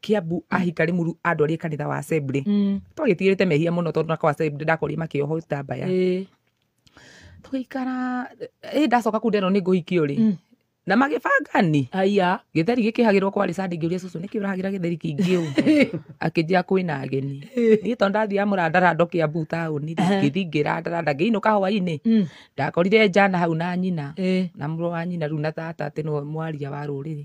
Kiambu ahika Limuru andwarie kanitha wa Assembly Mm. twagĩtigĩrĩte mehia mũno tondũ nako Assembly ndakorire makĩohwo itambaya Ĩĩ. tũgĩikara ĩ ndacoka kunda ĩno nĩ ngũhikio rĩ Mm. na magĩbangani Aya. gĩtheri gĩkĩhagĩrwo kwarĩ sande ngĩũria cũcũ nĩkĩ ũrahagĩra gĩtheri kĩingĩ ũũ akĩnjia kwĩna ageni niĩ tondũ ndathiaga mũrandarando kĩambu taũni Aha. ngĩthi ngĩrandaranda ngĩinũka hwainĩ Mm. ndakorire njana hau na nyina Ĩĩ. na mũrũ wa nyina rĩu na tata atĩ nĩwe mwaria wa rũrĩrĩ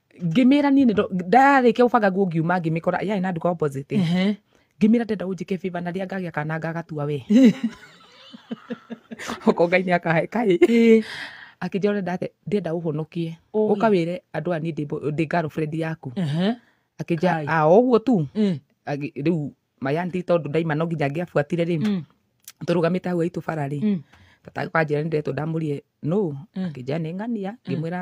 ngĩmĩra niĩ nĩ ndo- ndarĩkia gũbanga nguo ngiuma ngĩmĩkora yarĩ na nduka opposite Ehe. ngĩmĩra ndenda ũnjĩke favor na rĩrĩa ngagĩa kana ngagatua we oko ngai nĩ akahe kaĩ Ĩĩ. akĩnjĩra ũrenda atĩ ndĩenda ũhonokie Ũĩ. ũka wĩre andũ aya niĩ ndĩ bo- ndĩ girlfriend yaku Ehe. Kai. akĩnjĩra a ũguo tu Ĩĩ. Agĩ- rĩu mayanti tondũ ndaima no nginya angĩabuatire rĩ Mm. tũrũgamĩte hau haitũ bara rĩ Mm. tata kanjĩra nĩ ndĩretwo ndamũrie no Mm. akĩnjĩra nĩ ng'ania ngĩmwĩra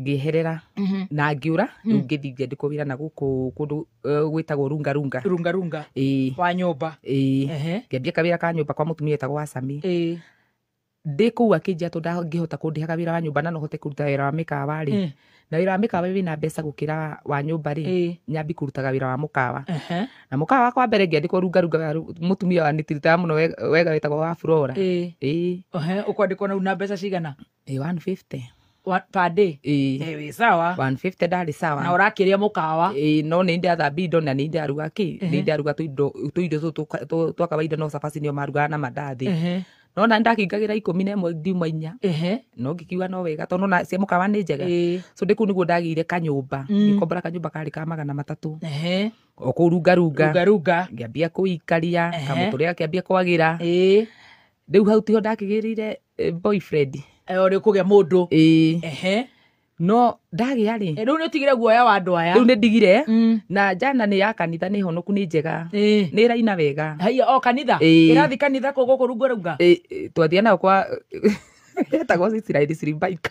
ngĩeherera Mhm. na ngĩũra rĩu ngĩthiĩ ngĩandĩkwo wĩra na gũkũ kũndũ eh, gwĩtagwo runga runga runga runga ĩĩ wa nyũmba ĩĩ Ehe. ngĩambia kawĩra ka nyũmba kwa mũtumia etagwo wa sami Ĩĩ. ndĩ kũu akĩnjia tondũ ndangĩhota kũndĩhaga wĩra wa nyũmba na no hote kũruta wĩra wa mĩkawa rĩ Eh. na wĩra wa mĩkawa wĩna mbeca gũkĩra wa nyũmba rĩ Ĩĩ. nyambi kũrutaga wĩra wa mũkawa Ehe. na mũkawa wakwa mbere ngĩandĩkwo rungarunga wa ru- mũtumia wa nĩtiritaga mũno we- wega wetagwo wa flora Ĩĩ. ĩĩ Ehe, ũkwandĩkwo na una mbeca cigana ĩ 150 Wa- per day ĩ Eh, wĩ sawa 150 ndarĩ na sawa ũrakĩrĩa mũkawa ĩ no nĩ ndathambia indo na nĩ ndaruga kĩ nĩ ndaruga tũindo tũindo tũtũ tũka- tũ- twa kawaida no cabaci nĩo marugaga na mandathi Ehe, no na ndakĩingagĩra ikũmi na ĩmwe ndiuma inya ehe, no ngĩkiuga no wega tondũ na cia mũkawa nĩ njega ĩ, so ndĩ kũu nĩguo ndagĩire kanyũmba Mm. ngĩkombora kanyũmba karĩ ka magana matatũ ehe, o kũu rungarunga rungarunga ngĩambia kũikaria Ehe. kamũtũrĩa kĩambia kwagĩra ĩ, rĩu hau tiho ndakĩgĩrĩire eh, boyfriend Eh, ũrĩ kũgĩa mũndũ ĩĩ ehe no ndagĩa rĩ Eh, rĩu nĩ ũtigire guoya wa andũ aya rĩu nĩ ndigire Mm. na njana nĩ ya kanitha nĩ honoku nĩ njega Eh. nĩ ĩraina wega haiya o kanitha Ĩĩ. ĩrathi kanitha kå gå kå runga runga Ĩ- ĩ, twathiĩ nayo kwa etagwo Israeli Slimbaika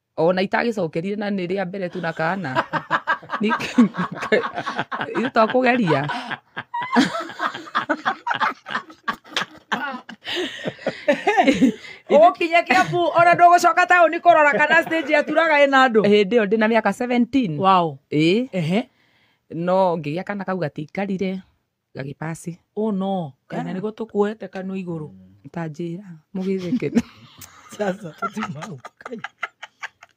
ona itagĩcokerire na nĩ rĩa mbere tu na kana itwa kũgeria ũgũkinya kĩambu ona ndũgũcoka taũni kũrora kana stage yaturaga ĩna andũ hĩndĩ ĩyo ndĩ na mĩaka 17 wow. ĩĩ no ngĩgĩa kana kau gatikarire gagĩpasi oh no kana nĩgo tũkuoete kanu igũrũ tanjĩra mũgĩtheke sasa tũtimau kai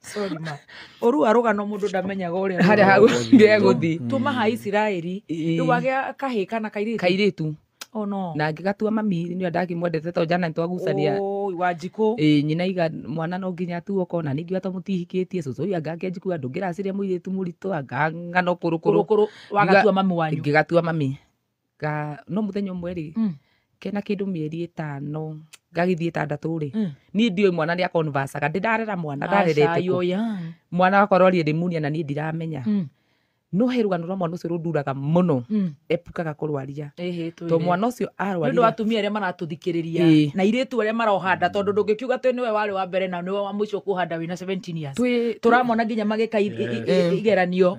sorry ma ũru wa rũgano mũndũ ndamenyaga ũrĩa harĩa hagũthiĩ tũmaha isiraeli rĩu wagĩa kahĩ kana kairĩtu kairĩtu oh no na ngĩgatua mami nĩ ndakĩmwendete to jana nĩtwagucania Oi, wa njikũ ĩ nyina iga mwana no nginya atuo kona ningĩ wata mũtihikĩtie cũcũ ũyũ anga akĩanjikua ndũngĩraciria mũirĩtu mũritũ anga ng'ano kũrũkũrũ kũrũkũrũ wagatua mami wanyu ngĩgatua mami nga no mũthenya ũmwe rĩ Mm. kena kĩndũ mĩeri ĩtano ngagĩthiĩ ĩtandatũ rĩ Mm. niĩ ndiũĩ mwana nĩ akonvacaga ndĩ ndarera mwana Aca, ndarerete yo kũ. young. mwana wakorwo rĩrĩ munia na niĩ ndiramenya Mm. no he rũgano rwa mwana ũcio rũnduraga mũno Mm. epukaga kũrwaria Ĩhĩ, twĩrĩ. to mwana ũcio nĩ ũndũ wa arwarire atumia arĩa maratũthikĩrĩria Ĩĩ. na irĩtu arĩa marohanda tondũ ndũngĩkiuga atĩ nĩwe warĩ wa mbere na nĩwe wa mũico kũhanda wĩna 17 years twĩ tũramona nginya magĩka i- i- i- Eh. igeranio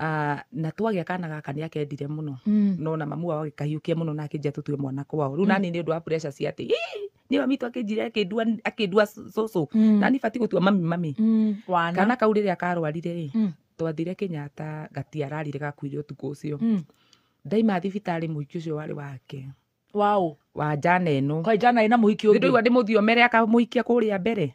Ah, na twagĩa kana gaka nĩ akendire mũno Mm. no na mamu wao agĩkahiũkia mũno na akĩnjia tũtue mwana kwao rĩu nani nĩ ũndũ wa pressure cia atĩ "Ih, nĩ mami tu akĩnjire akĩndua akĩndua cũcũ Mm. nani bati gũtua mami mami Mm. Wana. kana kau rĩrĩa karwarire rĩ Mm. twathire kenyatta gatiararire gakuire ũtukũ ũcio Mm. ndaima thibitarĩ mũhiki ũcio warĩ wake Wow. wa njana ĩno Kwa jana ina muhiki nĩ ũngĩ. ndũigua ndĩmũthiomere akamũhikia kũrĩa mbere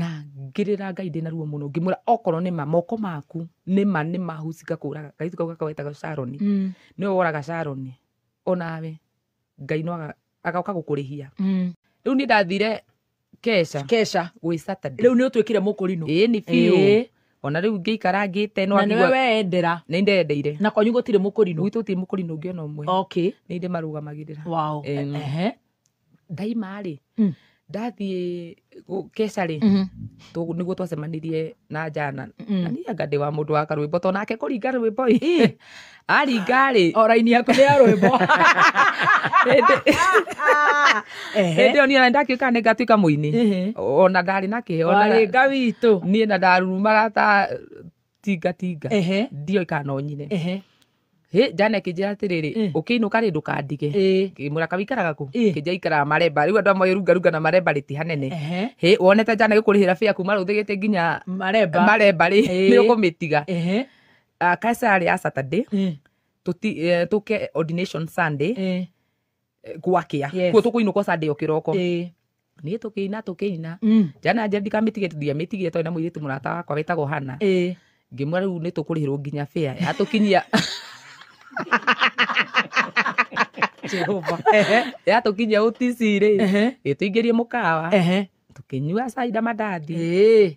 na ngĩrĩra Ngai ndĩna ruo mũno ngĩmwĩra okorwo nĩ ma moko maku nĩ ma nĩ ma huci ngakũraga. Kairĩtu kau gakwa getagwo Sharon, nĩwe woraga Sharon, onawe Ngai no agoka gũkũrĩhia. Rĩu niĩ ndathire Kesha. Kesha. Gwĩ Saturday. Rĩu nĩ ũtuĩkire mũkũrinũ. Ĩni biũ. Ona rĩu ngĩikara ngĩte no Na nĩwe weendera. Nĩ ndendeire. Na kwanyu gũtirĩ mũkũrinũ. Gwitũ gũtirĩ mũkũrinũ ũngĩ ona ũmwe. Okay. Nĩ ndĩmarũgamagĩrĩra. Wow. Ehe. ndaima rĩ Mm. ndathiĩ gũ- keca rĩ Mhm. tũ- nĩguo twacemanirie na jana Mm. na niĩ anga ndĩ wa mũndũ wa karwĩmbo to nake kũringa rwĩmbo ĩ aringa rĩ o raini yaku nĩ ya rwĩmbo hĩndĩ Ehe. ĩyo niĩ ndatuĩka nĩ ngatuĩka mũini Ehe. ona ndarĩ na kĩhe ona warĩ nga witũ niĩ na ndarurumaga ta tinga tinga ehe ndioĩ kana no nyine ehe Hĩ, njana ĩkĩnjĩra atĩrĩrĩ Eh. ũkĩinũka rĩ ndũkandige ĩ ngĩmwĩra kaĩ ũikaraga kũ Eh. kĩnja ikaraga maremba rĩu andũ amwe rungarunga na maremba rĩti hanene ehe hĩ wonete njana gĩkũrĩhĩra bĩa kuma rũthĩgĩte nginya maremba maremba rĩ Eh. nĩ ũkũmĩtiga ehe Ah, kaca yarĩ ya saturday ĩ tũti- eh, tũke ordination sunday ĩ eh, gwakĩa Yes. kuo tũkũinũkwo sunday o kĩroko Ĩĩ. niĩ tũkĩina tũkĩina Mm. njana nja ndikamĩtigĩte ndiamĩtigire tondũ na mũirĩtu mũrata wakwa wetagwo hana Ĩĩ. ngĩmwĩra rĩu nĩ tũkũrĩhĩrwo nginya bĩa yatũkinyia Jehova. Ehe. yatũkinyia ũtici-rĩ Ehe. ĩtũingĩrie mũkawa Ehe. tũkĩnyua caida mandathi Ĩĩ.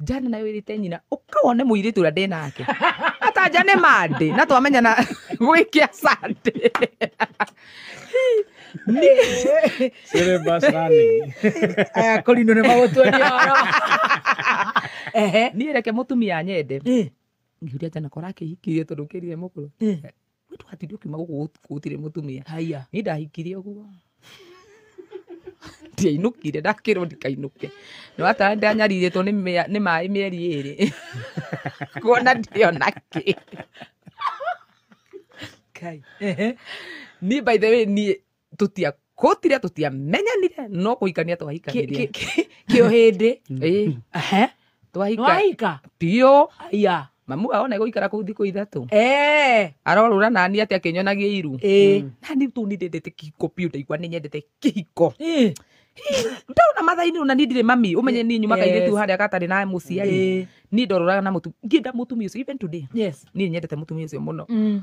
njane nayo ĩrĩte nyina ũka wone mũirĩtu ũrĩa ndĩ nake atanja nĩ mandĩ na twamenyana gwĩkia sande Syllabus running. aya kũrinũ nĩ magũtuonia ũhoro ehe niĩ reke mũtumia nyende Eh, ngĩuria njana kora akĩhikirie tondũ kĩrire mũkũrũ eh. Nĩ twatinde ũkiuma gũkũ gũt- gũtirĩ mũtumia haiya nĩ ndahikire ũguo ndiainũkire ndakĩrwo ndikainũke no atara ndanyarirĩtwo nĩ mĩa- nĩ maĩ mĩeri ĩrĩ kuona ndĩona kĩ Kai. Ehe. niĩ by the way niĩ tũtia kũtire tũtiamenyanire no kũhikania twahikanire kĩo hĩndĩ Ĩ, Ehe. twahika nĩwahika biũ aya mamu wao na gũikara kũu thikũ ithatũ Eh, arorũra nani atĩ akĩnyonagia iru eh, nani tu nĩ ndendete kĩhiko biũ ndaigua nĩ nyendete kĩhiko eh, ndona mathainĩ ona niĩ ndirĩ mami ũmenye niĩ nyumaga Yes. irĩtu harĩa gatarĩ na mũciari eh, niĩ ndorũraga na mũtumia ngĩenda mũtumia ũcio even today yes. niĩ nyendete mũtumia ũcio mũno Mm.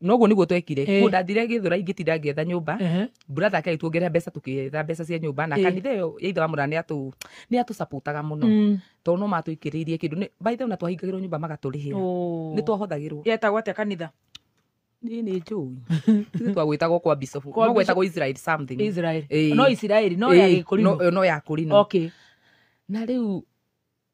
no guo niguo twekire Eh. ndathire githura ingĩtinda ngĩetha nyũmba Ehe. buratha ake agĩtuongerera mbeca tũkĩetha mbeca cia nyũmba na Eh. kanitha ĩyo ya ithe wa mũra nĩatũ nĩatũcapũtaga mũno Mm. tondũ no matũikĩrĩirie kĩndũ Nĩ- by the way, na twahingagĩrwo nyũmba magatũrĩhĩra Oh. nĩ twahũthagĩrwo yetagwo atĩa kanitha niĩ nĩ njũi Ithuĩ twagwĩtagwo kwa bicobu Kwa no gwetagwo israel something israel Eh. no isiraeli no ya Eh, gĩkũrino no- no ya kũrino okay na rĩu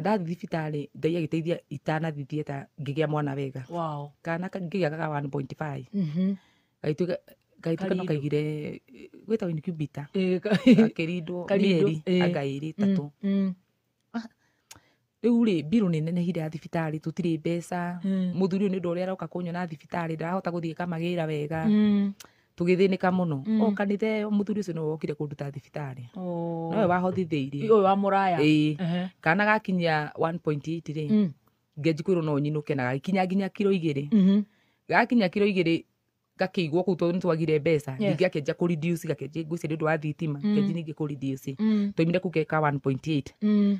Ndathiĩ thibitarĩ Ngai agĩteithia itanathiĩ theater ngĩgĩa mwana wega. Wow. Kana ngĩgĩa ga 1.5. Gagĩtuĩka gagĩtuĩka no kaigire gwĩtagwo incubator. Gakĩrindwo mĩeri anga ĩrĩ ĩtatũ. Rĩu rĩ mbirũ nĩ nenehire ya thibitarĩ tũtirĩ mbeca. Mũthuri ũyũ nĩ ũndũ ũrĩa aroka kũnyona thibitarĩ ndarahota gũthiĩ eka mawĩra wega. tũgĩthĩnĩka mũno Mm. o kanitha ĩyo mũthuri ũcio nĩwe wokire kũnduta thibitarĩ Oh. nowe wahothithĩirie Ũyũ wa mũraya. Ĩĩ. Ehe. kana gakinyia 1.8 rĩ Mm. ngenji kwĩrwo no nyinũke na gagĩkinya nginya kiro igĩrĩ Mhm. gakinya kiro igĩrĩ gakĩigwo kũu tondũ nĩ twagire mbeca Yes. ningĩ gakĩanjia kũ reduce gakĩanjia ngwĩcia nĩ ũndũ wa thitima Mm. ngenji ningĩ kũ reduce Mm. twaimire kũu geka 1.8 Mm.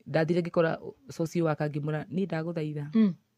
ndathire ngĩkora socio waka ngĩmũra niĩ ndagũthaitha Mm.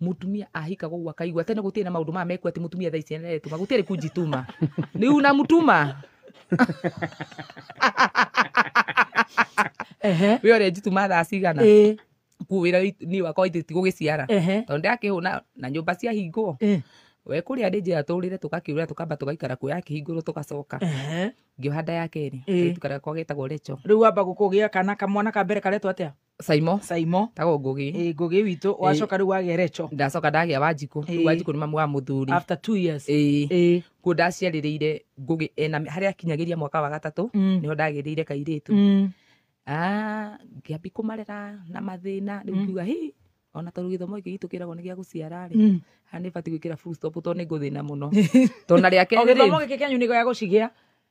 mutumia ahika koguo akaigua tene gutirĩ na maundu maya mekwo ati mutumia thaa ici aretuma gutirĩ kunjituma ni unamtuma ehe we ore njituma thaa cigana eh kuo wira ni wakwa ithe ti gugiciara ehe tondu ndakihuna na nyumba cia hingwo eh we kuria ndi njira turire tugakiura tukamba tugaikara kuo yakihingurwo tugacoka ehe ngioha nda ya keri Eh. tukara kwa getagwo recho riu wamba gukugia kana kamwana ka mbere karetwo atia caimo caimo tagwo ngũgĩ ĩ ngũgĩ witũ wacoka rĩu wagĩa reco ndacoka ndagĩa wanjikũ Ĩĩ. rĩu wanjikũ nĩ mamu wa mũthuri after two years Ĩĩ. ĩ kuo ndaciarĩrĩire ngũgĩ ena harĩa akinyagĩria mwaka wa gatatũ Mm. nĩho ndagĩrĩire kairĩtu Mm. Ah, ngĩambi kũmarera na mathĩna rĩu ngiuga hi ona tondũ gĩthomo gĩkĩ gitũ kĩragwo nĩ gĩa gũciara rĩ Mm. ha nĩ batiĩ gwĩkĩra full stop tondũ nĩ ngũthĩna mũno tondũ na rĩa o kerĩ gĩthomo rĩ gĩkĩ kĩanyu nĩ gĩa gũcigĩa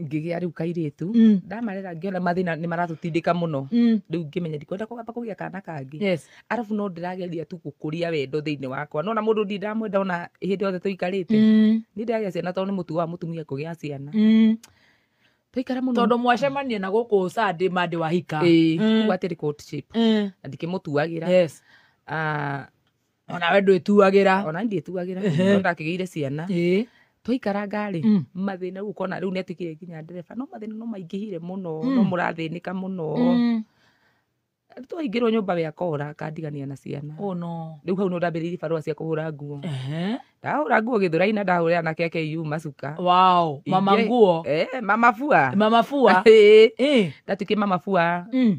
ngĩgĩa rĩu kairĩtu Mm. ndamarera ngĩona mathĩna nĩ maratũtindĩka mũno Mm. rĩu ngĩmenya ndikwenda kũgamba kũgĩa kana kangĩ Yes. arabu no ndĩrageria tu gũkũria wendo thĩinĩ wakwa nona mũndũ ndi ndamwenda ona hĩndĩ yothe tũikarĩte Mm. nĩ ndĩragĩa ciana tondũ nĩ mũtugo wa mũtumia kũgĩa ciana Mm. twaikara mũno tondå mwacemania na gå kå sande mandä wahika Ĩĩ, Mm. kuga atĩrĩ courtship, Mm. na ndikĩmũtuagĩra Yes. Ah, onawe ndwĩtuagĩra ona ndĩtuagĩra Ehe. no ndakĩgĩire ciana Ĩĩ. twaikaranga rĩ Mm. mathĩna rĩu ũkona rĩu nĩatuĩkire nginya ndereba no mathĩna no maingĩhire mũno Mm. no mũrathĩnĩka mũno Mm. twaingĩrwo nyũmba we akora akandigania na ciana Oh, no. rĩu hau no ndambĩrĩirie barũa cia kũhũra nguo Ehe. ndahũra nguo gĩthũrai na ndahũrĩra na keke iu macuka Wow. mama Ingĩ- nguo Eh, mama bua mama bua Ĩĩ. Ĩĩ. ndatuĩkie mama bua Mm.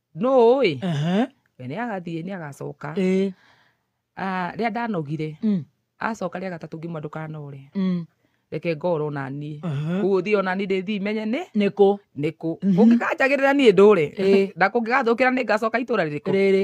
nũũĩ Ehe, we nĩ agathiĩ nĩ agacoka ĩ, Ah, rĩrĩa ndanogire mm, acoka rĩa gatatũ ngiuma ndũkanore mm, reke ngoro onaniĩ ehe. gũthiĩ onani ndĩthiĩ menye nĩ nĩkũ nĩkũ kũngĩkanjagĩrĩra niĩ ndũre Ĩ. na kũngĩgathũkĩra nĩ ngacoka itũra rĩrĩkũ rĩrĩ